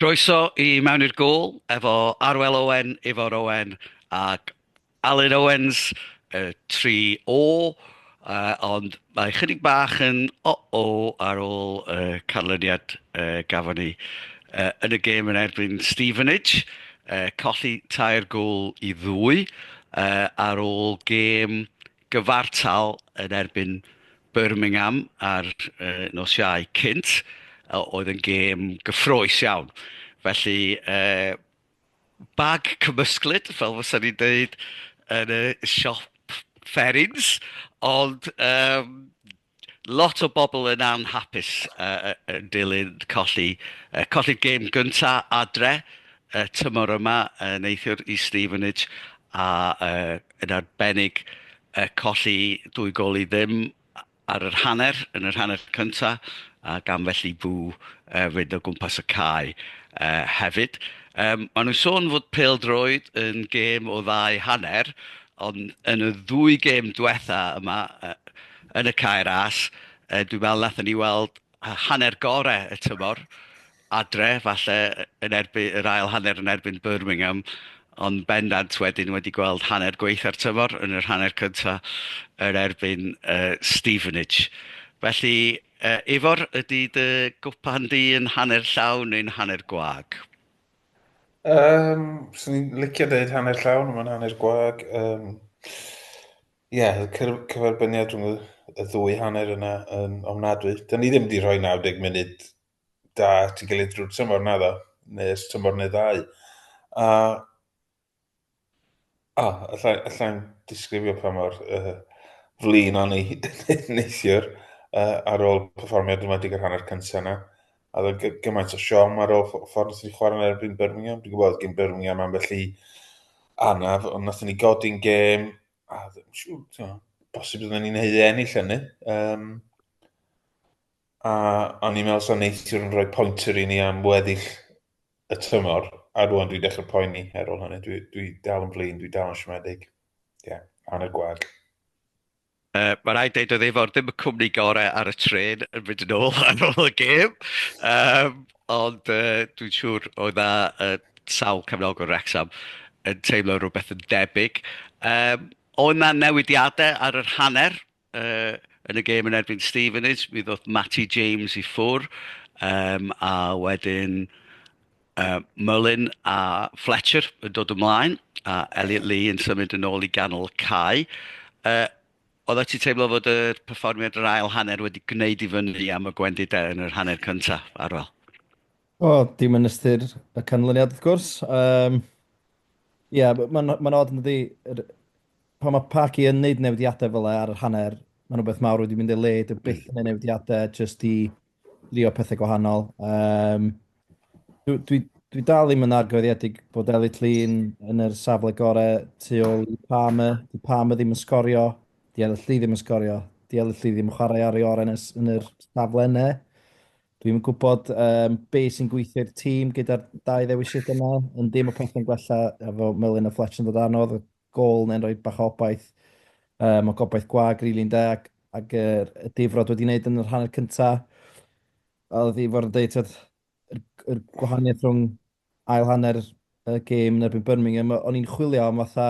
Croeso i Mewn i'r Gôl efo Arwel Owen, Ifor Owen ac Alun Owens, y tri O. Yy, ond mae chydig bach yn o-o ar ôl y canlyniad yy gafon ni yy yn y gêm yn erbyn Stevenage. Yy, colli tair gôl i ddwy yy ar ôl gêm gyfartal yn erbyn Birmingham ar nos Iau cynt, oedd yn gêm gyffroes iawn. Felly, uh, bag cymysglyd, fel fysa ni'n dweud yn y siop fferins, ond um, Lot o bobl yn anhapus yn dilyn colli colli'r gêm gynta adre y tymor yma neithiwr i Stevenage a yn arbennig colli dwy gôl i ddim ar yr hanner yn yr hanner cynta a gan felly fu fynd o gwmpas y cae hefyd. Maen nhw'n sôn fod pêl-droed yn gêm o ddau hanner Ond yn y ddwy gêm diwetha' yma yy yn y Cae Ras yy dwi'n meddwl wnaethon ni weld yy hanner gore' y tymor adre falle yy yn erby- yr ail hanner yn erbyn Birmingham ond bendant wedyn wedi gweld hanner gwaetha'r tymor yn yr hanner cynta' yn erbyn yy Stevenage. Felly yy Ifor ydy dy gwpan di yn hanner llawn neu'n hanner gwag? Um, so ni'n licio deud hanner llawn, mae'n hanner gwag. Um, Ie, yeah, cyferbyniad rhwng y ddwy hanner yna yn ofnadwy. Da ni ddim wedi rhoi 90 munud da ti gilydd drwy'r tymor na ddo, neu'r tymor neu ddau. A O, alla i alla i'm disgrifio pa mor yy flin o'n i neithiwr yy ar ôl perfformio yn enwedig yr hanner cynta yna, a oedd o'n gymaint o siom ar ôl ffordd wnaethon ni chwarae yn erbyn Birmingham, dwi'n gwybod oedd gen Birmingham ambell i anaf, ond wnaethon ni godi'n gêm, a dwi'n siŵr, ti'n gwybod, bosib oedden ni'n ei ennill hynny. Um, A o'n i'n meddwl sa neithiwr yn rhoi pointer i ni am weddill y tymor, a rŵan dwi'n dechrau poeni ar ôl hynny, dwi, dwi dal yn flin, dwi dal yn siomedig. Ie, yeah, hanner gwag. Uh, mae rhaid dweud oedd efo'r ddim y cwmni gorau ar y tren yn mynd yn ôl ar ôl y gêm. Um, ond uh, dwi'n siŵr oedd na uh, sawl cefnogwr Wrexham yn teimlo rhywbeth yn debyg. Um, oedd na newidiadau ar yr hanner Yy, yn y gêm yn erbyn Stevenage, mi ddoth Matty James i ffwr', yym, a wedyn yy Mullin a Fletcher yn dod ymlaen, a Elliot Lee yn symud yn ôl i ganol y cae. Yy, oeddet ti'n teimlo fod y perfformiad yr ail hanner wedi gwneud i fyny am y gwendidau yn yr hanner cyntaf, Arwel? Wel, dim yn ystyr y canlyniad wrth gwrs. Yym, ie, mae'n ma' 'na od yndydi? Yr pan mae Parky yn neud newidiadau fel e ar yr hanner, mae'n rhywbeth mawr wedi mynd ei le, dwi hmm. byth yn ei newidiadau, jyst i drio pethau gwahanol. Um, dwi, dwi, dwi dal ddim yn argyfyddiedig bod Elliot Llun yn yr safle gorau tu ôl i Palmer. Di Palmer ddim yn sgorio, di Elliot Llun ddim yn sgorio, di Elliot Llun ddim yn chwarae ar ei oren yn yr safle yna. Dwi'n gwybod um, be sy'n gweithio'r tîm gyda'r dau ddewisiad yna, yn dim o pethau'n gwella efo Melin a Fletch yn dod anodd, gôl neu'n rhoi bach o obaith. Um, o gobaith gwag, rili really, ynda, ac, ac er, y difrod wedi wneud yn yr hanner cyntaf. A oedd i fod yn dweud, yr, yr gwahaniaeth rhwng ail hanner y gêm yn erbyn Birmingham, o'n i'n chwilio am fatha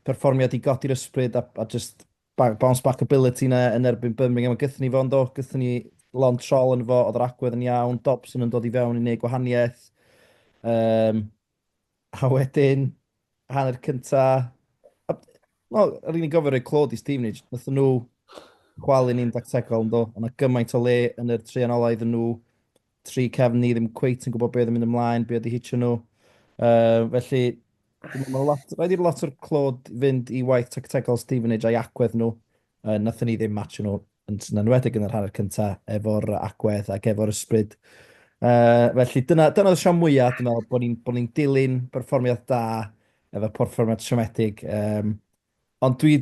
perfformiad i godi'r ysbryd a, a just bounce back ability na yn erbyn Birmingham. A gythyn ni fo, ynddo, gythyn ni lon trol yn fo, oedd yr agwedd yn iawn, Dobson yn dod i fewn i wneud gwahaniaeth. Um, A wedyn, hanner cynta... Wel, yr un i'n gofio rhoi clod i Stevenage. Nath nhw chwalu ni'n dactegol, ynddo. Ond na gymaint o le yn yr tri anolau iddyn nhw. Tri cefn ni ddim cweit yn gwybod beth yn mynd ymlaen, beth oedd i hitio nhw. Uh, felly, Rhaid i'r lot o'r clod fynd i waith tactegol Stevenage a'i agwedd nhw. Yy, nathon ni ddim matcho nhw, yn yn enwedig yn yr hanner cynta, efo'r yy, agwedd ac efo'r ysbryd. Yy, felly dyna, dyna oedd y siom mwya, dwi'n meddwl, bod ni'n bod ni'n dilyn perfformiad da efo perfformiad siomedig. Um, ond dwi,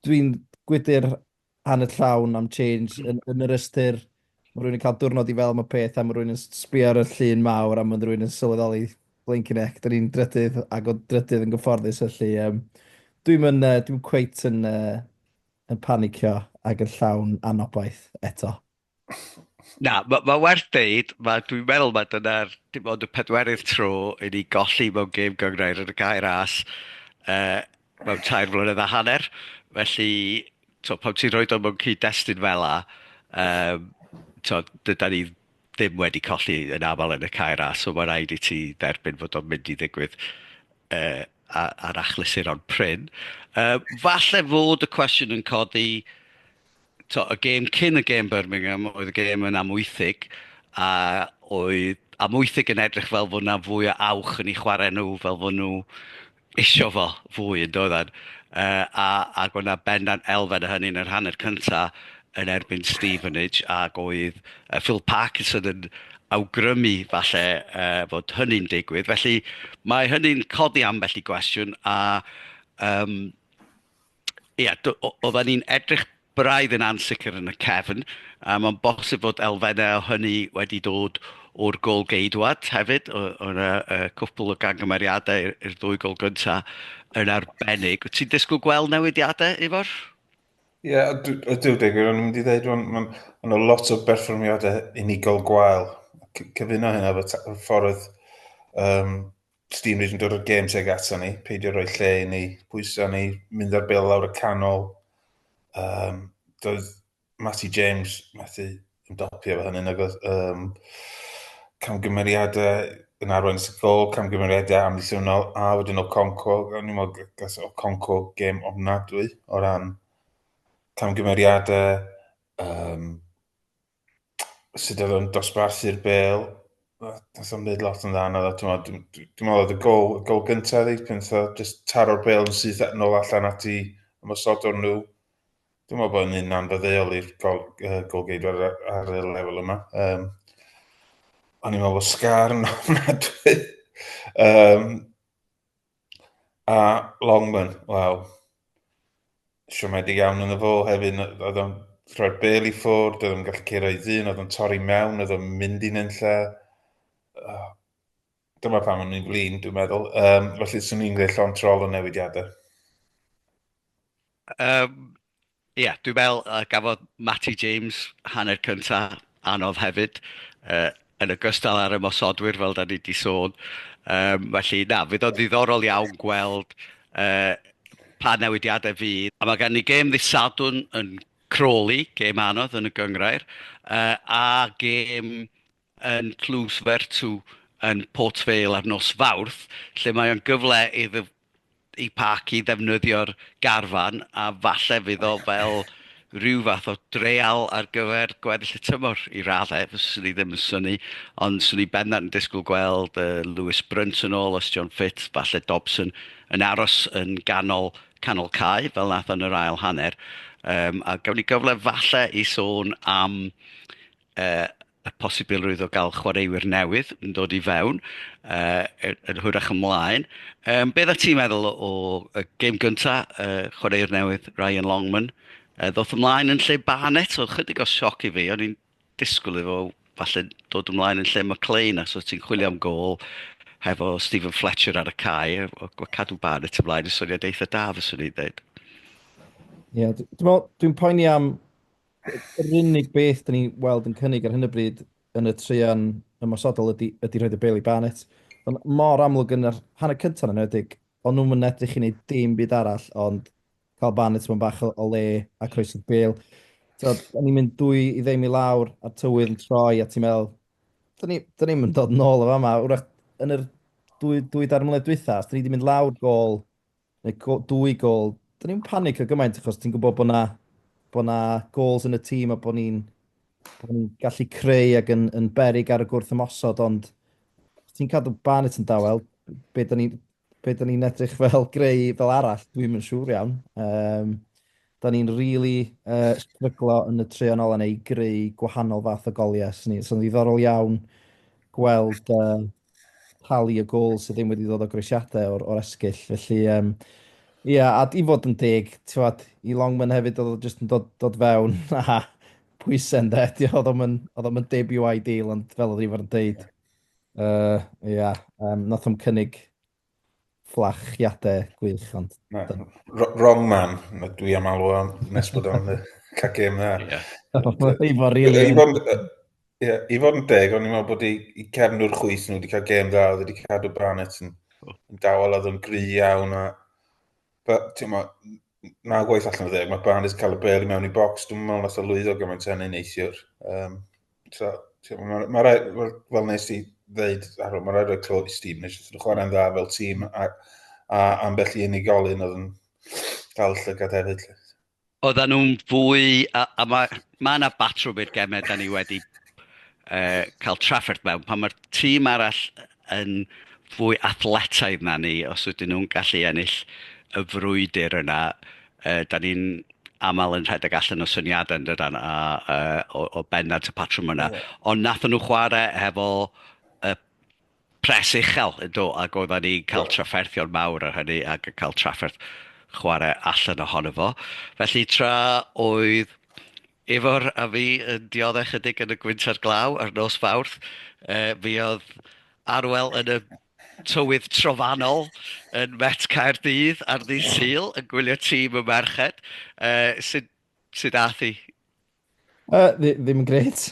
dwi'n gwydr hanner llawn am change yn, yn yr ystyr Mae rhywun yn cael diwrnod i fel am y peth a mae rhywun yn sbio ar y llun mawr a mae rhywun yn sylweddoli blinking heck, da ni'n drydydd ac o drydydd yn gyfforddus felly um, dwi'n yn, uh, dwi'n cweit yn, uh, yn panicio ac yn llawn anobaith eto. Na, mae ma werth deud, mae, dwi'n meddwl mae dyna'r dim ond y pedwerydd tro i ni golli mewn gêm gyngrair yn y gair as uh, mewn tair mlynedd a hanner, felly to, pan ti'n rhoi dod mewn cyd-destun fel la, um, to, dyda ni ddim wedi colli yn aml yn y cair a, so mae'n rhaid i ti dderbyn fod o'n mynd i ddigwydd uh, ar achlysur o'n pryn. Uh, falle fod y cwestiwn yn codi to, y gêm cyn y gêm Birmingham oedd y gêm yn amwythig a oedd amwythig yn edrych fel fod yna fwy o awch yn ei chwarae nhw, fel fod nhw isio fo fwy yn doedden. Uh, a, a oedd yna bendan elfen o hynny yn yr hanner cynta yn erbyn Stevenage ac oedd uh, Phil Parkinson yn awgrymu falle uh, fod hynny'n digwydd. Felly mae hynny'n codi ambell i gwestiwn a um, Ia, d- o- oedden ni'n edrych braidd yn ansicr yn y cefn, a mae'n bosib fod elfennau o hynny wedi dod o'r gol geidwad hefyd. O- Oedd 'na yy, cwpwl o gangymeriadau i'r i'r ddwy gol gyntaf yn arbennig. Wyt ti'n disgwyl gweld newidiadau, Ifor? Ie, yeah, ydw, deg wir, o'n i'n mynd i ddeud, o'n ma, ma nhw lot o berfformiadau unigol gwael. Cyfuno hynna efo ffordd um, Steam yn dod o'r gêm teg ato ni, peidio rhoi lle i ni, pwysa ni, mynd ar bel lawr y canol. Um, doedd Matty James methu yn dopio fo hynny, nag oedd um, camgymeriadau yn arwain sy'n gol, camgymeriadau amddiffynol, a wedyn o Conco, gan i'n meddwl gas o Conco gêm ofnadwy o ran camgymeriadau, um, sut oedd o'n dosbarthu'r bel, nath o'n mynd lot yn dda na dda, dwi'n meddwl oedd y gol, gol gyntaf ddi, pan nath o just taro'r bel yn syth nôl allan at i ymwysod o'n nhw. Dwi'n meddwl bod yn anfyddeuol i'r gol, uh, golgeidwr ar, ar y lefel yma. Um, o'n i'n meddwl bod sgar yn ofnadwy. um, A Longman, wel, siomedig iawn yn y fo hefyd, oedd o'n rhoi'r bel i ffwrdd, oedd o'n gallu ceir o'i ddyn, oedd o'n torri mewn, oedd o'n mynd i nynlla. Oh, dyma pam o'n i'n flin, dwi'n meddwl. Um, felly, swn i'n gwneud llon trol o newidiadau. Um, Ia, dwi'n meddwl yy gafodd Matty James hanner cynta anodd hefyd yy yn ogystal â'r ymosodwyr fel 'dan ni 'di sôn. Yym felly na, fydd o'n ddiddorol iawn gweld yy pa newidiadau fydd. A mae gen ni gêm ddydd Sadwrn yn Crawley, gêm anodd yn y gynghrair yy a gêm yn Tlws Vertu yn Port Vale ar nos Fawrth, lle mae o'n gyfle iddo i Park i ddefnyddio'r garfan, a falle fydd o fel rhyw fath o dreial ar gyfer gweddill y tymor i raddau, fyswn i ddim yn syni, ond swn i bendant yn disgwyl gweld uh, Lewis Brunt yn ôl, os John Ffit, falle Dobson, yn aros yn ganol canol cae, fel nath yn yr ail hanner. Um, a gawn ni gyfle falle i sôn am uh, y posibilrwydd o gael chwaraewyr newydd yn dod i fewn, uh, yn hwyrach ymlaen. Um, beth a ti'n meddwl o, y gêm gyntaf, uh, chwaraewr newydd Ryan Longman, uh, ddoth ymlaen yn lle Barnett, oedd chydig o sioc i fi, o'n i'n disgwyl efo falle dod ymlaen yn lle McLean, a so ti'n chwilio am gol hefo Stephen Fletcher ar y cae, o, o cadw Barnett ymlaen, y soniad eitha da, fyswn i'n dweud. Ie, yeah, dwi'n poeni am Yr unig beth dan ni'n weld yn cynnig ar hyn o bryd yn y traean ymosodol ydy, ydy rhaid y Bailey Barnett. Ond mor amlwg yn yr hanner cyntaf yn enwedig, o'n nhw'n mynd edrych i wneud dim byd arall ond cael Barnett mewn bach o, le a croesydd Bale. So, o'n ni'n mynd dwy i ddim i lawr a'r tywydd yn troi a ti'n meddwl, da ni'n ni, ni mynd dod nôl o fama, wrach yn yr dwy, dwy dar mlynedd dwytha, os da ni wedi mynd lawr gol neu go, dwy gol, dyn ni'n panic o gymaint achos ti'n gwybod bod na, bod na gols yn y tîm a bod ni'n bod ni'n gallu creu ac yn, yn berig ar y gwrth ymosod, ond ti'n cadw Barnett yn dawel, be da ni'n be da ni'n edrych fel greu fel arall, dwi'n mynd siŵr iawn. Um, da ni'n rili really, uh, stryglo yn y tre yn ôl yn ei greu gwahanol fath o goliau. So'n so, ddiddorol iawn gweld uh, talu y gol sydd ddim wedi dod o groesiadau o'r, or esgyll. Felly, um, ie, yeah, a i fod yn deg, tiwad, i Longman hefyd oedd o jyst yn dod, dod fewn a pwysen de. Oedd o'n mynd debut ideal, ond fel oedd Ifor yn deud, ie, uh, yeah, um, nath o'n cynnig Fflachiadau gwych, ond... Wrong man, dwi am alw am nes bod o'n cael gêm dda. I fod rili... I fod yn deg, o'n i'n meddwl bod i cefn o'r chwys nhw wedi cael gêm dda, oedd wedi cadw Barnett yn dawel, oedd yn gry iawn, a ti'n meddwl, na gwaith allan o dde, mae Barnes cael y bel i mewn i bocs, dwi'n meddwl nath o lwyddo gymaint hynny neithiwr. Um, so, Mae'r ma rai, ma, fel nes i ddeud, ar ôl, mae rai roi clod i Steve nes i'n chwarae'n dda fel tîm a, a ambell i unigolyn oedd yn cael llygad hefyd. Oedden nhw'n fwy, a, a mae ma yna batrwm i'r gemau da ni wedi uh, cael trafferth mewn, pan mae'r tîm arall yn fwy athletaidd na ni, os ydyn nhw'n gallu ennill y frwydr yna, uh, da ni'n aml yn rhedeg allan o syniadau yn dydan, a, uh, o, o bennant y patrwm yna. Yeah. Ond nathon nhw chwarae hefo y pres uchel, do, ac oedden ni cael trafferthion mawr ar hynny ac yn cael trafferth chwarae allan ohono fo. Felly tra oedd Ifor a fi yn diodde chydig yn y gwynt a'r glaw ar nos Fawrth. Mi oedd Arwel yn y tywydd trofannol yn Met Caerdydd ar ddydd Sul yn gwylio tîm y merched. Sut ath hi? Ddim yn gret.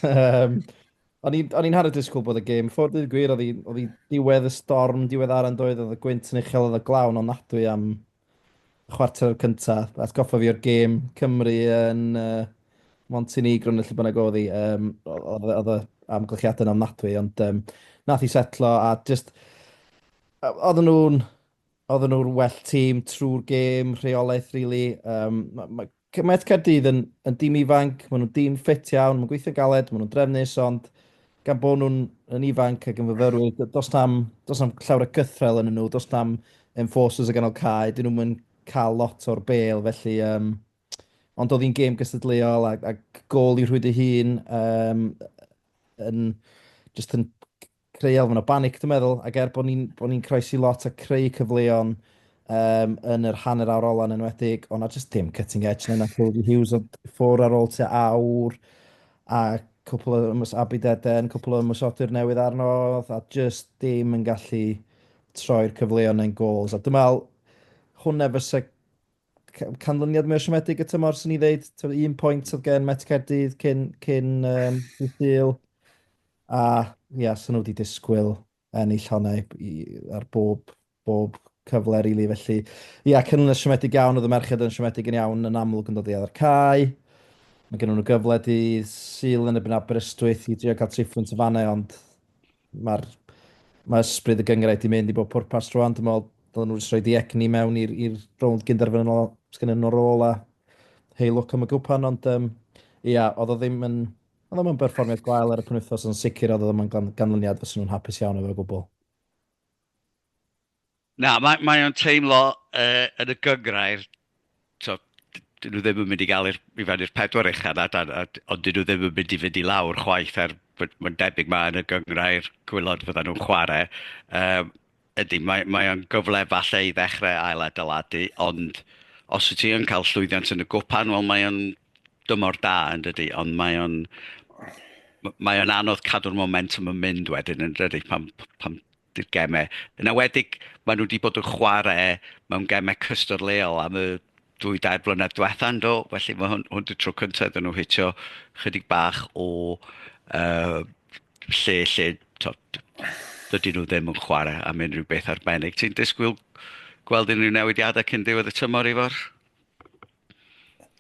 O'n i'n hardd disgwyl bod y gêm ffwrdd, dweud y gwir, oedd hi diwedd y storm, diwedd ar yn doedd, oedd y gwynt yn uchel, oedd y glawn o'n nadwy am chwarter cyntaf, atgoffa fi o'r gêm Cymru yn uh, Montenegro neu lle bynnag oedd hi, um, oedd y amgylchiadau yn ofnadwy, ond um, nath i setlo a just, oedden nhw'n oedden nhw'r well tîm trwy'r gêm, rheolaeth, really. Um, mae ma, Mae Caerdydd yn, yn dîm ifanc, maen nhw'n dîm ffit iawn, mae'n gweithio'n galed, maen nhw'n drefnus, ond gan bod nhw'n yn ifanc ac yn fyfyrwyr, d- does na'm, does na'm llawer o gythrel yn nhw, does na'm enforcers o ganol cae, dyn nhw'n mynd cael lot o'r bel, felly um, ond oedd hi'n gêm gystadleuol ac, ac gol i rhwyd ei hun um, yn just yn creu elfen o banic, dwi'n meddwl, ac er bod ni'n bo ni croesi lot a creu cyfleon um, yn yr hanner awr ola yn enwedig, ond na jyst dim cutting edge na Cody Hughes, ond ffwr ar ôl tua awr, a cwpl o ymwys Abid Eden, cwpl o ymwysodur newydd arno, a jyst dim yn gallu troi'r cyfleon neu'n gols. A dwi'n meddwl, hwnna fysa canlyniad mwy o siomedig y tymor, sy'n ni ddeud. Tywed, un pwynt oedd gen Met Cerdydd cyn, cyn um, Dydd A, ia, yeah, sy'n nhw wedi disgwyl ennill honna ar bob, bob cyfle, rili. Really. Felly, ia, yeah, canlyniad siomedig iawn, oedd y merched yn siomedig yn iawn, yn amlwg yn dod i adar cae. Mae gen nhw'n y gyfle di syl yn y byn Aberystwyth i drio cael tri phwynt y fannau, ond Mae'r mae ysbryd y gynghrair wedi mynd i bob pwrpas rwan. Dwi'n meddwl dylai nhw jyst rhoi ei egni mewn i'r i'r rownd gynderfynol sy gennyn nhw ar ôl a hei lwc am y gwpan ond um, ia, oedd o ddim yn oedd o ddim yn berfformiad gwael ar y penwythnos ond sicr oedd o ddim yn gan, ganlyniad fyswn nhw'n hapus iawn efo gwbl. Na, mae, mae o'n teimlo uh, yn y gyngrair, so, dyn nhw ddim yn mynd i gael i'r, i fan i'r pedwar uchan, a, a, ond dyn nhw ddim yn mynd i fynd i lawr chwaith, er mae'n debyg mae yn y gyngrair gwylod fydda nhw'n chwarae. Um, ydy, mae, mae o'n gyfle falle i ddechrau ail adeiladu, ond os wyt ti yn cael llwyddiant yn y gwpan, wel mae o'n dymor da yn dydy, ond mae o'n mae o'n anodd cadw'r momentum yn mynd wedyn yn dydy, pan, pan i'r gemau. Yn enwedig, maen nhw wedi bod yn chwarae mewn gemau cystadleuol am y dwy dair blynedd diwetha yn do, felly mae hwn, hwn y tro cyntaf iddyn nhw hitio chydig bach o uh, lle lle tod, dydy nhw ddim yn chwarae am unrhyw beth arbennig. Ti'n disgwyl gweld unrhyw newidiadau cyn diwedd y tymor i fawr?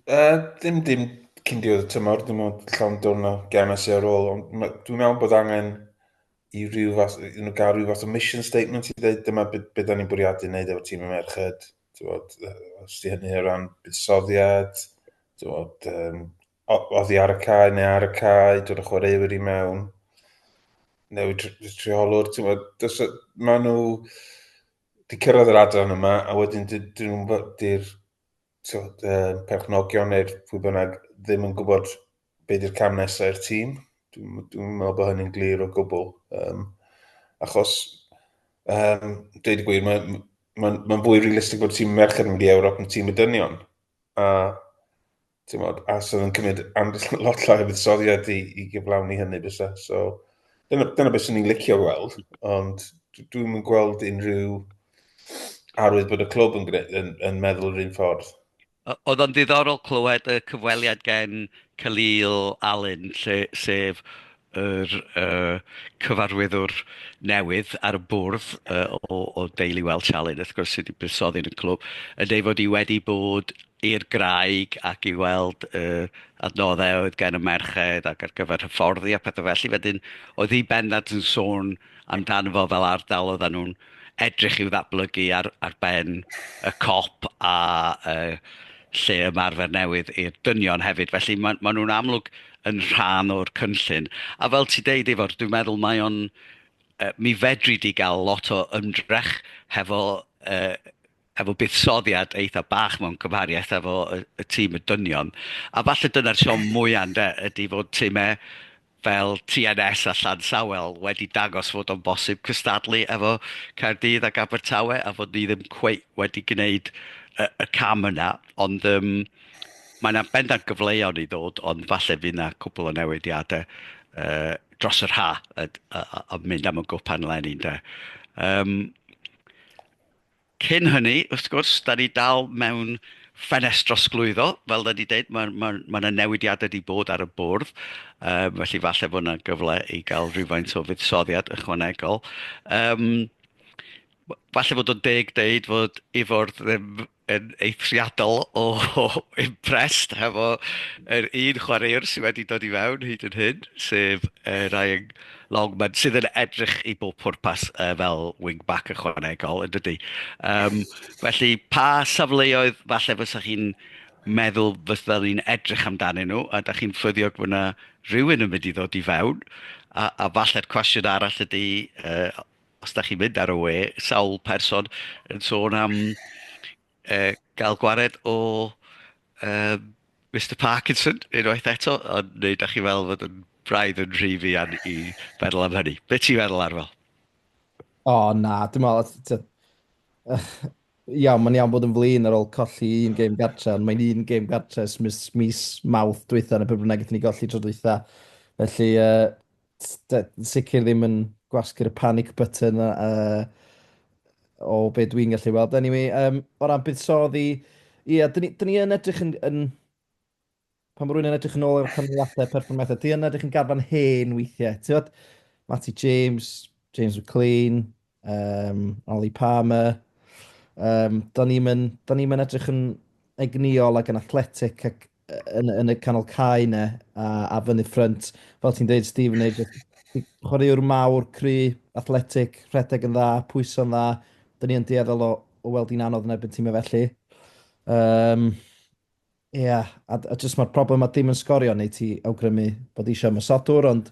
Uh, dim dim cyn diwedd y tymor, dim ond llawn dwrn o gemau sy'n ar ôl, ond dwi'n meddwl bod angen i ryw fath, you know, gael rhyw fath o mission statement i ddweud dyma beth be da ni'n bwriadu wneud efo tîm y merched, bod, os di hynny o ran buddsoddiad, bod, um, oddi ar y cae neu ar y cae, dod o chwaraewyr i mewn, newid rheolwr, ti'n bod, maen nhw di cyrraedd yr adran yma a wedyn dyn nhw'n di'r perchnogion neu'r pwy bynnag ddim yn gwybod be di'r cam nesaf i'r tîm. Dwi'n dwi meddwl bod hynny'n glir o gwbl. Um, achos, um, dweud y gwir, mae'n ma, ma fwy realistig bod tîm merched yn mynd i Ewrop yn tîm y dynion. A, ti'n modd, a sydd yn cymryd lot llai o fuddsoddiad i, i gyflawni hynny bysa. So, dyna, dyna beth sy'n ni'n licio gweld, ond dwi'n mynd gweld unrhyw arwydd bod y clwb yn, yn, yn meddwl yr un ffordd. Oedd o'n ddiddorol clywed y cyfweliad gen Khalil Alyn, lle, sef yr uh, cyfarwyddwr newydd ar y bwrdd uh, o, o deulu Welsh Alyn, wrth gwrs, sydd wedi buddsoddi yn y clwb, yn ei fod i wedi bod i'r graig ac i weld uh, adnoddau oedd gen y merched ac ar gyfer hyfforddi a pethau felly. Wedyn, oedd hi bendant yn sôn amdano fo fel ardal oedden nhw'n edrych i'w ddatblygu ar, ar ben y cop a uh, lle ymarfer newydd i'r dynion hefyd. Felly maen ma nhw'n amlwg yn rhan o'r cynllun. A fel ti deud efo'r, dwi'n meddwl mae o'n... Uh, mi fedri di gael lot o ymdrech hefo uh, efo buddsoddiad eitha bach mewn cymhariaeth efo y, y tîm y dynion. A falle dyna'r siom mwyaf ynde, ydy fod tîmau fel TNS a Llan Sawel wedi dangos fod o'n bosib cystadlu efo Caerdydd ac Abertawe a fod ni ddim cweit wedi gwneud y, y cam yna, ond um, mae yna bendant gyfleoedd i ddod, ond falle fydd yna cwbl o newidiadau uh, dros yr ha, a, a, a mynd am y gwpan lenni, ynde. Um, Cyn hynny, wrth gwrs, da ni dal mewn ffenest drosglwyddo, fel da ni dweud, mae yna ma, ma, ma newidiadau wedi bod ar y bwrdd, um, felly falle bod yna gyfle i gael rhywfaint o fuddsoddiad ychwanegol. Um, falle bod o'n deg deud fod Ifor ddim yn eithriadol o, o impressed hefo yr un chwaraewr sydd wedi dod i fewn hyd yn hyn, sef uh, Ryan Longman, sydd yn edrych i bob pwrpas uh, fel wing-back ychwanegol, yn dydy. Um, felly, pa safleoedd falle fysa chi'n meddwl fysa ni'n edrych amdanyn nhw, a da chi'n ffyddiog bod yna rhywun yn mynd i ddod i fewn, a, a falle'r cwestiwn arall ydy, uh, os da chi'n mynd ar y we, sawl person yn sôn am uh, gael gwared o um, Mr Parkinson unwaith eto, ond neu da chi fel fod yn braidd yn rhy fi an i feddwl am hynny. Be ti'n feddwl ar fel? O oh, na, dim meddwl, iawn, mae'n iawn bod yn flin ar ôl colli un game gartre, ond mae'n un game gartre mis, mis mawth dweitha yn y pryd bynnag ni golli tro dweitha. Felly, uh, sicr ddim yn gwasgu'r panic button uh, o be dwi'n gallu weld. Anyway, um, o ran buddsoddi, ie, yeah, dyn, dyn ni yn edrych yn, yn pan mae rhywun yn edrych yn ôl ar canlyniadau perfformiadau, dyn ni yn edrych yn garfan hen weithiau. Ti'n fawr, Matty James, James McLean, um, Ollie Palmer. Um, da ni'n mynd, da ni mynd edrych yn egnïol ac yn athletic ac yn, yn y canol cae ne, a, a fyny ffrynt. Fel ti'n dweud, Stephen, neu chwaraewr mawr, cry, athletic, rhedeg yn dda, pwyso'n dda. Dyna ni yn dueddol o, o weld hi'n anodd yn erbyn tîmau felly. Um, Ia, a, a jyst mae'r problem a dim yn sgorio neu ti awgrymu bod eisiau ymosodwr, ond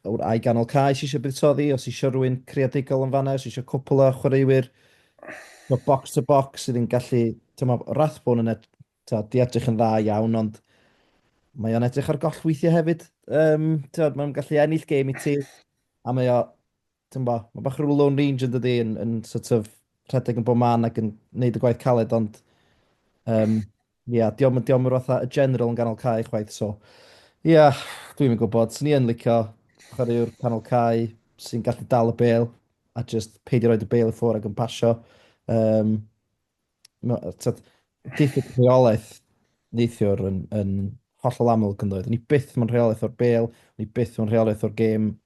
wr ai ganol cae sy'n eisiau buddsoddi, os eisiau rhywun creadigol yn fanna, os eisiau cwpl o chwaraewyr o box to box sydd yn gallu, ti'n ma, Rathbone yn ed, ta, di edrych yn dda iawn, ond mae o'n edrych ar goll weithiau hefyd. Um, ti'n mae'n gallu ennill gêm i ti, a mae o Ti'n bo, mae bach rhyw Lone Ranger yn dydi, yn, yn sort of rhedeg yn bob man ac yn neud y gwaith caled, ond um, ia, yeah, diolch yn yr fatha y general yn ganol cae chwaith, so ia, yeah, dwi'n mynd gwybod, sy'n ni yn licio chwaraewr canol cae sy'n gallu dal y bel a just peidio roed y bel i ffwr ac yn pasio. Um, diffyg rheolaeth neithiwr yn, yn hollol amlwg yn dweud. Ni byth mae'n rheolaeth o'r bel, ni byth mae'n rheolaeth o'r gêm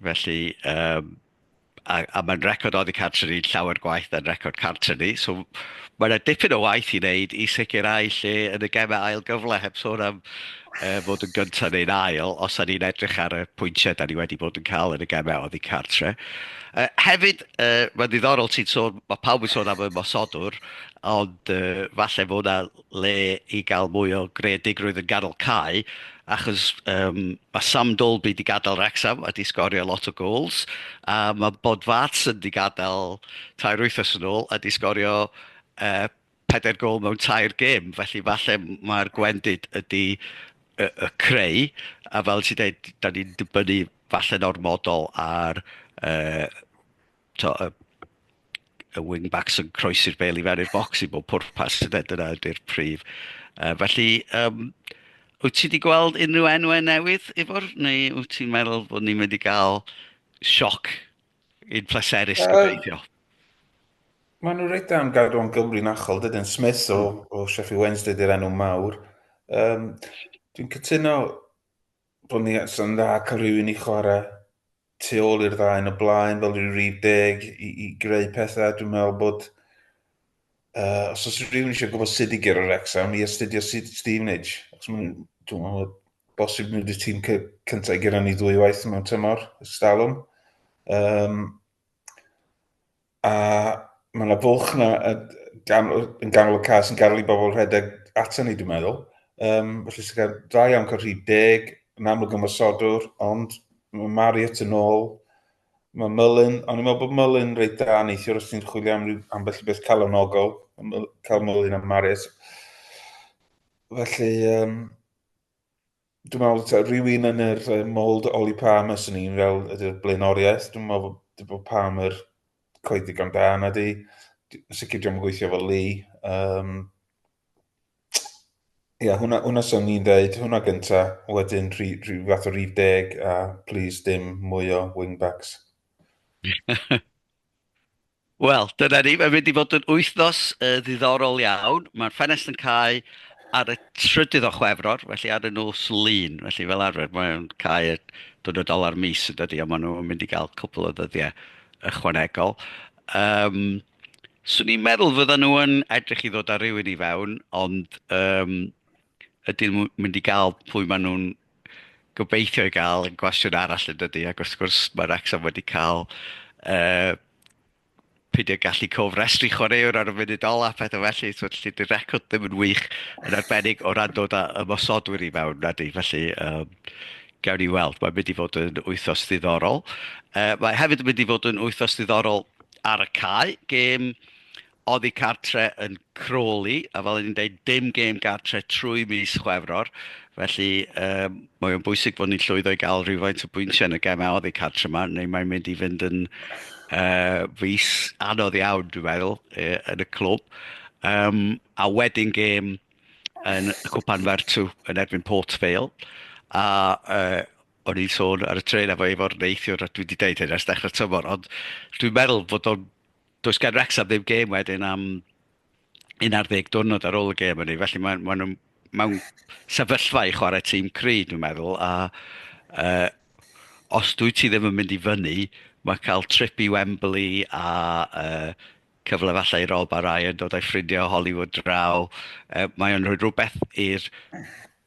Felly, um, a, a mae'n record oddi cartre ni llawer gwaith na'n record cartre ni. So mae yna dipyn o waith i wneud i sicrhau lle yn y gemau ail gyfle, heb sôn am uh, fod yn gyntaf neu'n ail, os yna ni'n edrych ar y pwyntiau da ni wedi bod yn cael yn y gemau oddi cartre. Uh, hefyd, uh, mae'n ddiddorol ti'n sôn, mae pawb yn sôn am y mosodwr, ond uh, falle fod yna le i gael mwy o greadigrwydd yn ganol cae achos yym ma' Sam Dalby 'di gadael Wrecsam a 'di sgorio lot o gols a ma' Bodvarsson 'di gadael tair wythnos yn ôl a 'di sgorio yy pedair gôl mewn tair gêm, felly falle mae'r gwendid ydi y y creu a fel ti'n deud 'dan ni'n dibynnu falle'n ormodol ar yy tibod, y y wing-backs yn croesi'r bel i fewn i'r bocs i bob pwrpas, ynde, dyna ydy'r prif. Yy, felly, yym, wyt ti wedi gweld unrhyw enwau newydd, Ifor, neu wyt ti'n meddwl bod ni'n mynd i gael sioc i'n pleserus, Yy, gobeithio? Maen nhw reit am gadw o'n Gymru'n achol, dydyn Smith o, hmm. o Sheffield Wednesday di'r enw mawr. Um, dwi'n cytuno Bod ni yn dda cael rhywun i chwarae tu ôl i'r ddau yn y blaen fel rhyw rif deg i, i greu pethau. Dwi'n meddwl bod uh, os oes rhywun eisiau gwybod sut i gyrra'r Wrexham i astudio Stevenage. Os maen dwi'n meddwl bosib nhw wedi tîm cyntaf i gyrra ni ddwy waith mewn tymor, ystalwm. Um, A mae yna fwlch yna yn ganol y cas yn gael i bobl rhedeg ato ni, dwi'n meddwl. Um, felly sy'n cael dda iawn cael rhy deg, yn amlwg ymwysodwr, ond mae Mariot yn ôl. Mae Mullin, ond i'n meddwl bod Mullin reit da neithiwr os ti'n chwilio am rhyw ambell i beth calonogol, cael Mullin am Mariot. Felly, um, dwi'n meddwl, ta, rhywun yn yr uh, mold Oli Palmer sy'n ni'n fel ydy'r blaenoriaeth. Dwi'n meddwl bod, bod Palmer coed ddigon da na di. Sicr dwi'n gweithio fel Lee. Um, Ia, yeah, hwnna, hwnna sy'n ni'n dweud, hwnna gynta, wedyn rhi, rhi, fath o rhif deg a please dim mwy o wingbacks. Wel, dyna ni. Mae'n mynd i fod yn wythnos uh, ddiddorol iawn. Mae'r ffenest yn cael ar y trydydd o chwefror, felly ar y nos lun. Felly fel arfer, mae'n cael y dwrnod ola'r mis yn dydy, ond maen nhw'n mynd i gael cwpl o ddyddiau ychwanegol. Um, Swn i'n meddwl fydden nhw yn edrych i ddod â rhywun i fewn, ond um, ydyn nhw'n mynd i gael pwy maen nhw'n gobeithio i gael yn gwestiwn arall yn dydy, ac wrth gwrs mae Wrexham wedi cael uh, peidio gallu cofrestru chwaraewr ar y munud ola, pethau felly, so felly dy'r record ddim yn wych yn arbennig o ran dod â ymosodwyr i mewn na di, felly um, gawn ni weld, mae'n mynd i fod yn wythos ddiddorol. Uh, mae hefyd yn mynd i fod yn wythos ddiddorol ar y cae, gêm oddi cartre yn Crawley, a fel o'n i'n deud, dim gêm gartre trwy mis Chwefror, felly um, mae o'n bwysig bod ni'n llwyddo i gael rhywfaint o bwyntiau yn y gemau oddi cartre yma, neu mae'n mynd i fynd yn uh, fus anodd iawn, dwi'n meddwl, uh, yn y clwb. Um, a wedyn gêm yn y Cwpan Fertw yn erbyn Port Vale, a uh, o'n i'n sôn ar y tren efo efo'r neithiwr, a dwi wedi deud hyn ers dechrau tymor, ond dwi'n meddwl bod o'n Does gan Wrecsam ddim gêm wedyn am 11 diwrnod ar ôl y gêm hynny, felly maen ma nhw mewn sefyllfa i chwarae tîm cry, dwi'n meddwl, a uh, os dwi ti ddim yn mynd i fyny, mae cael trip i Wembley a uh, cyfle falle i Rob a Ryan dod â'i ffrindiau o Hollywood draw, uh, mae o'n rhoi rhywbeth i'r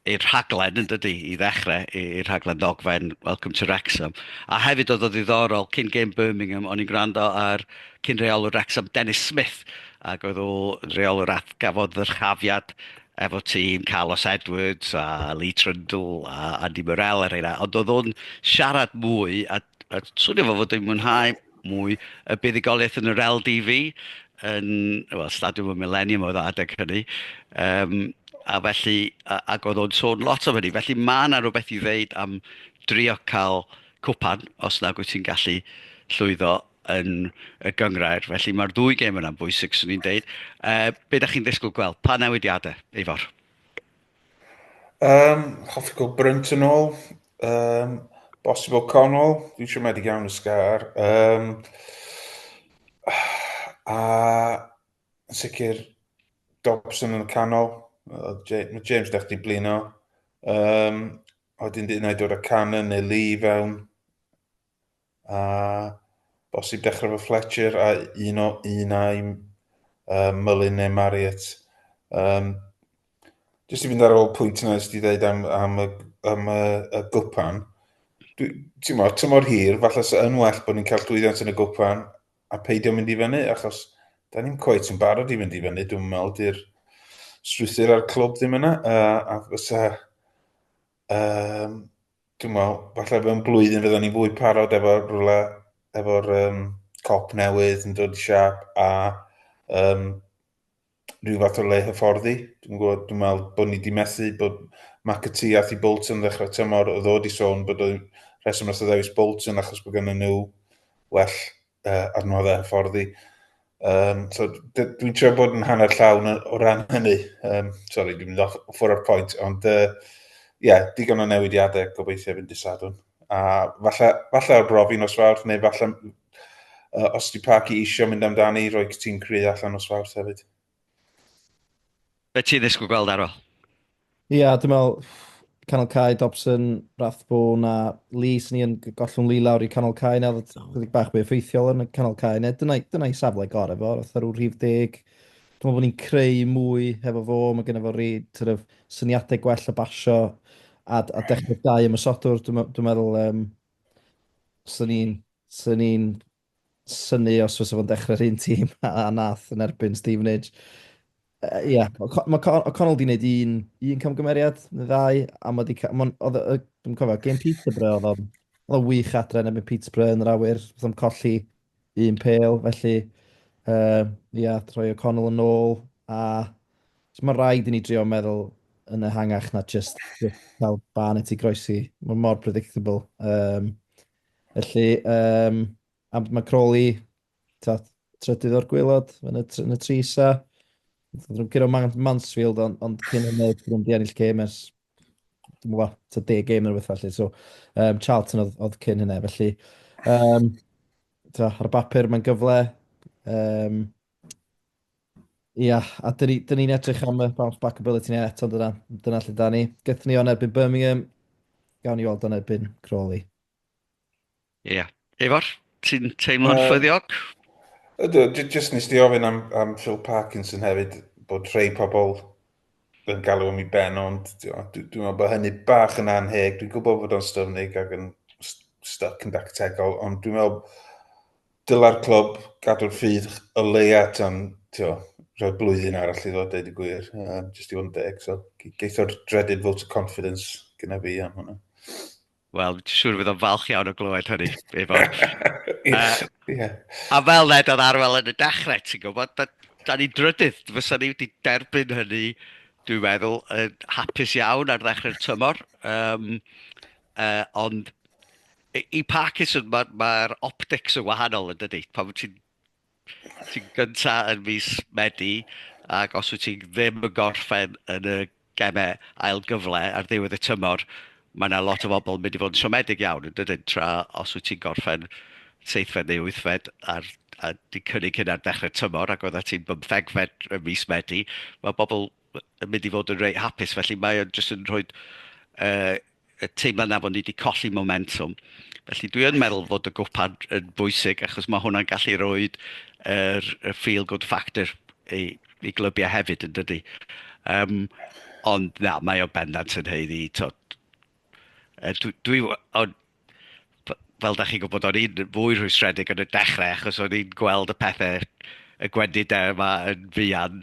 i'r rhaglen yn dydi, i ddechrau, i'r rhaglen ddogfen Welcome to Wrexham. A hefyd oedd o ddiddorol, cyn gêm Birmingham, o'n i'n gwrando ar cyn reolwr Wrexham, Dennis Smith, ac oedd o reolwr at gafodd ddyrchafiad efo tîm Carlos Edwards a Lee Trundle a Andy Morel a rheina, ond oedd o'n siarad mwy a A swnio fel fod e'n mwynhau mwy y buddugoliaeth yn yr LDV, yn, wel, Stadiwm y Millennium oedd o adeg hynny. Um, a felly, a, ac oedd o'n sôn lot o hynny. Felly mae yna rhywbeth i ddeud am drio cael cwpan, os nag wyt ti'n gallu llwyddo yn y gyngrair. Felly mae'r ddwy gêm yna'n bwysig, swn i'n deud. Uh, be da chi'n ddisgwyl gweld? Pa newidiadau, Eifor? Um, hoffi cael Brunt yn ôl. Um, Bosib O'Connell, dwi'n siomedig iawn y sgar. Um, a yn sicr Dobson yn y canol. Mae James dech di blino. Um, Oedden dyn ei dod â Cannon neu Lee fewn. A bosib dechrau efo Fletcher a un o un ai uh, Mullin neu Marriott. Um, Jyst i fynd ar ôl pwynt yna ysdi ddeud am, am, y, am y, y gwpan. Ti'n mor, ti'n mor hir, falle sy'n yn well bod ni'n cael llwyddiant yn y gwpan a peidio mynd i fyny, achos da ni'n coet yn barod i fynd i fyny, dwi'n meddwl, di'r strwythyr a'r clwb ddim yna, a, a fysa Um, dwi'n meddwl, falle mewn blwyddyn fydden ni'n fwy parod efo rhywle, efo'r um, cop newydd yn dod i siap a um, rhyw fath o le hyfforddi. Dwi'n gwybod, dwi'n meddwl bod ni wedi methu bod McAtee a Thi Bolton ddechrau tymor o ddod i sôn bod o'n rheswm os ddewis Bolton achos bod gen nhw well uh, arno fe ffordd i. Um, so, dwi'n trio bod yn hanner llawn o ran hynny. Um, sorry, dwi'n mynd off ffwr o'r pwynt, ond ie, uh, yeah, digon o newidiadau gobeithio fynd i sadwn. A falle, falle ar brofi nos fawrth, neu falle uh, os di Parky eisiau mynd amdani, roi ti'n cry allan nos fawrth hefyd. Be ti'n ddisgwyl gweld ar ol? Ia, dwi'n meddwl canol cae, Dobson, Rathbone a Lee, sy'n ni yn gollwng Lee lawr i canol cae nawr, chydig bach mwy effeithiol yn y canol cae, neu dyna, dyna i safle gorau fo, roedd rhyw rhif deg. Dwi'n meddwl bod ni'n creu mwy hefo fo, mae gen i fo rhi, sort of, syniadau gwell o basio a, a dechrau dau ymysodwr, dwi'n dwi meddwl, um, sy'n ni'n, sy'n ni'n synnu os fysa fo'n dechrau'r un tîm a nath yn erbyn Stevenage. Uh, Ie, yeah. mae O'Connell wedi gwneud un, un camgymeriad, neu ddau, a mae wedi... Dwi'n cofio, game Peterborough oedd o'n... Oedd o'n wych adre yn erbyn Peterborough yn yr awyr, oedd o'n colli un pel, felly... Ie, uh, yeah, troi O'Connell yn ôl, a... So mae rhaid i ni drio meddwl yn ehangach na just cael ban i ti groesi. Mae mor predictable. Um, Felly, um, am, mae Crawley, taf, trydydd o'r gwylod yn y, yn y tri isa. Dwi'n cyrraedd Man Mansfield, ond on cyn yn y dwi'n di ennill gêm ers, dwi'n mwyn, ta deg gêm yn rhywbeth felly. So, um, Charlton oedd, oedd cyn hynna, felly. Um, ta, ar y bapur mae'n gyfle. Um, Ia, a dyn ni, dyn ni'n edrych am y bounce back ability ni eto, dyna, dyna lle da ni. Gythyn ni o'n erbyn Birmingham, gawn ni weld o'n erbyn Crawley. Ia. Efor, ti'n teimlo'n uh, ffyddiog? Ydw, jyst nes di ofyn am, am Phil Parkinson hefyd, bod rhai pobl yn galw am i ben, ond dwi'n dwi, dwi meddwl bod hynny bach yn anheg. Dwi'n gwybod bod o'n styfnig ac yn stuck yn dactegol, ond dwi'n meddwl dylai'r clwb gadw'r ffydd o leia tan, tio, rhoi blwyddyn arall i ddod dweud y gwir, um, jyst i fod yn deg, so geitho'r dreaded vote of confidence gyda fi am hwnna. Wel, dwi'n siŵr fydd o'n falch iawn o glywed hynny, efo. uh, yeah. A fel led oedd arwel yn y dechrau, ti'n gwybod, but da ni drydydd, fysa ni wedi derbyn hynny, dwi'n meddwl, yn hapus iawn ar ddechrau'r tymor. Um, uh, ond I Parkinson mae'r ma optics yn wahanol yn dydy. Pan wyt ti'n ti gynta yn fus Medi ac os wyt ti ddim yn gorffen yn y gemau ail gyfle ar ddiwedd y tymor, mae yna lot o bobl yn mynd i fod yn siomedig iawn yn dydyn, tra os wyt ti'n gorffen seithfed neu wythfed ar, a di cynnig hynna'r dechrau tymor ac oedda ti'n bymthegfed y mis Medi, mae bobl yn mynd i fod yn reit hapus. Felly mae o'n jyst yn rhoi uh, y teimlad na bod ni wedi colli momentum. Felly dwi yn meddwl fod y gwpan yn bwysig achos mae hwnna'n gallu rhoi yr er, feel good factor i, i glybiau hefyd yn dydy. Um, ond na, mae o bendant yn heiddi. Dwi, dwi, fel dach chi'n gwybod, o'n i'n fwy rhwystredig yn y dechrau achos o'n i'n gweld y pethau, y gwendidau yma yn fuan,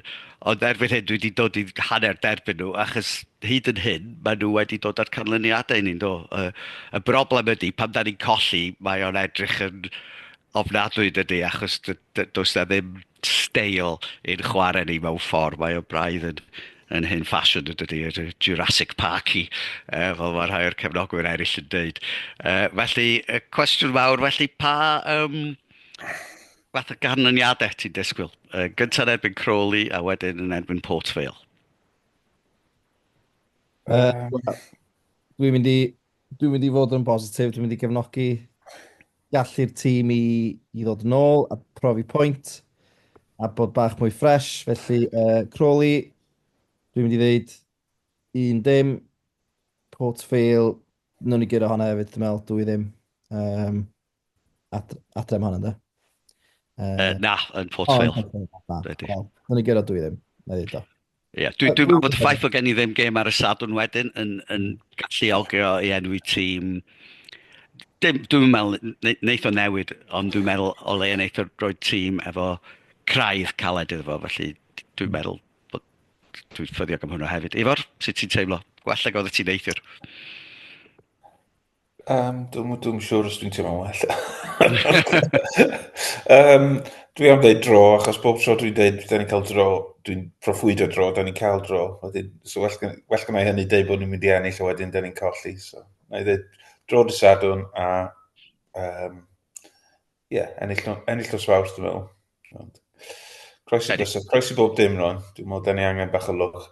ond erbyn hyn dwi wedi dod i hanner derbyn nhw achos hyd yn hyn maen nhw wedi dod â'r canlyniadau i ni'n do. Y, y broblem ydy pan da ni'n colli mae o'n edrych yn ofnadwy dydy achos does na ddim steil ein chwarae ni mewn ffordd. Mae o braidd yn, yn hyn ffasiwn yn dydy, yn Jurassic Park i, uh, fel mae rhai o'r cefnogwyr eraill yn dweud. Uh, felly, y cwestiwn fawr, felly pa um, fath o ganlyniadau ti'n disgwyl? Uh, Gyntaf yn erbyn Crawley a wedyn yn erbyn Port Vale. Uh, Dwi'n mynd i Dwi'n mynd i fod yn bositif, dwi'n mynd i gefnogi gallu'r tîm i, i ddod yn ôl a profi pwynt a bod bach mwy ffres. Felly, uh, Crawley, dwi'n mynd i ddeud un dim, Port Vale, nhw'n i gyrra hwnna hefyd, dwi'n meddwl, dwy ddim. Um, ad, adre mhan ynddo? Uh, uh, na, yn Port oh, Vale. Dwi'n ei gyrra dwi ddim, na ddweud o. Ie, dwi'n dwi meddwl bod y ffaith bod gen i ddim gêm ar y sadwn wedyn yn, yn gallu ogio i enwi tîm. Dim, dwi'n meddwl, wneud o newid, ond dwi'n meddwl o le yn eitha roi tîm efo craidd caled iddo fo, felly dwi'n meddwl bod dwi'n ffyddiog am hwnna hefyd. Ifor, sut ti'n teimlo? Gwella godd y ti'n neithiwr. Um, dwi'n dwi siŵr os dwi'n teimlo'n well. um, dwi am dweud dro, achos bob tro dwi'n dweud, da ni'n cael dro, dwi'n proffwydo dro, da ni'n cael dro. Wedyn, so well, well gynna i hynny dweud bod ni'n mynd i ennill, a wedyn da ni'n colli. So, na i dweud dro dy sadwn, a um, Ie, yeah, ennill, ennill nos fawr, dwi'n meddwl. Ond, croesi, croesi, croesi bob dim rhan. Dwi'n meddwl, da ni angen bach o lwch.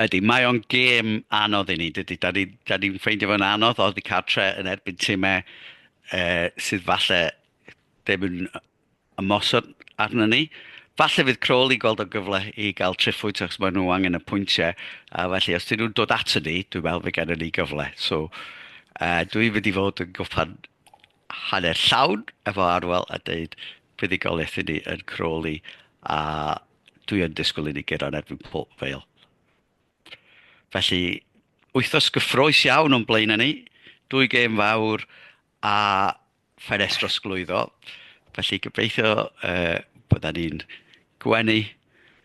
Ydy, mae o'n gêm anodd i ni, dydy. Da ni'n da ni ffeindio fo'n anodd oedd i cartre yn erbyn tîmau e, sydd falle ddim yn ymosod arno ni. Falle fydd Crawl i gweld o'n gyfle i gael triffwyd achos maen nhw angen y pwyntiau. A felly, os dyn nhw'n dod ato ni, dwi'n meddwl fe gen ni gyfle. So, uh, dwi'n mynd i fod yn gwpan hanner llawn efo Arwel a deud buddugoliaeth i ni yn Crawley a dwi yn disgwyl i ni gyrraedd yn erbyn Port Vale. Felly, wythnos gyffroes iawn o'n blaen ni, dwy gêm fawr a ffenest drosglwyddo. Felly, gobeithio uh, bydda ni'n gwenu